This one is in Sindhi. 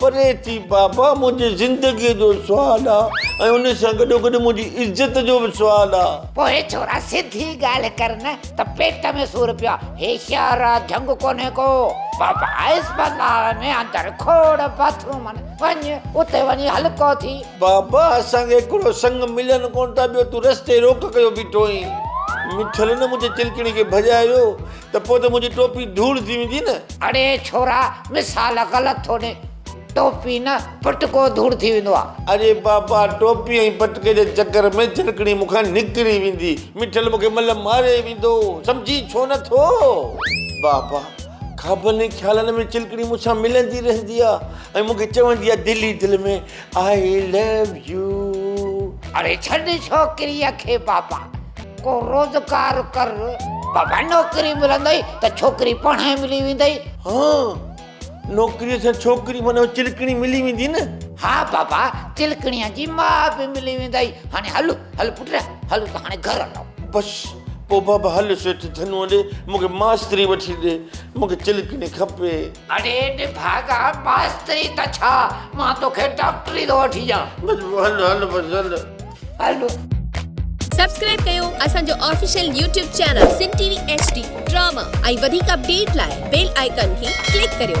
پري ٿي بابا منهنجي زندگي جو سوال آ ۽ ان سان گڏو گڏ منهنجي عزت جو به سوال آ. پوء ڇورا سڌي ڳالهه ڪر نه ته پيٽ ۾ سور پيو آ هي شهر آ جهنگ ڪونهي ڪو. بابا اسپتال ۾ اندر کوڙ باٿروم آهن وڃ اتي وڃي هلڪو ٿي. بابا اسان کي هڪڙو سڱ ملن ڪونه ٿا ٻيو تون رستي روڪ ڪيو بيٺو آهين. مٺل نه منهنجي چلڪڻي کي ڀڄايو ته پوء ته منهنجي ٽوپي ڌوڙ ٿي ويندي نه. اڙي ڇورا مثال غلط ٿو ڏي ٽوپي نه پٽڪو ڌوڙ ٿي ويندو آ. اڙي بابا ٽوپي ۽ پٽڪي جي چڪر ۾ جهرڪڻي مون کان نڪري ويندي مٺل مون کي ملهه ماري ويندو سمجهي ڇو نه ٿو. بابا خوابن ۽ خيالن ۾ چلڪڻي مون سان ملندي رهندي آ ۽ مون کي چوندي آ دل ئي دل ۾ I love you اڙي ڇڏ ڇوڪريء کي بابا ڪو روزگار ڪر بابا نوڪري ملندئي ته ڇوڪري پاڻ ئي ملي ويندئي. ها نوڪريء سان ڇوڪري معنيٰ چلڪڻي ملي ويندي نه. ها بابا چلڪڻيء جي ماء به ملي ويندئي هاڻي هل هل پٽ هل ته هاڻي گهر هلون. بس پوء بابا هل سيٺ ڌنوء ڏي مون کي ماستري وٺي ڏي مون کي چلڪڻي کپي. اڙي نڀاڳا ماستري ته ڇا مان توکي ڊاڪٽري ٿو وٺي ڏيان. بلبو هل هل بس هل. هل. سبسڪرائب ڪيو اسان جو official YouTube channel Sindh T V H D drama ۽ وڌيڪ اپڊيٽ لاء بيل آئيڪان کي ڪلڪ ڪريو.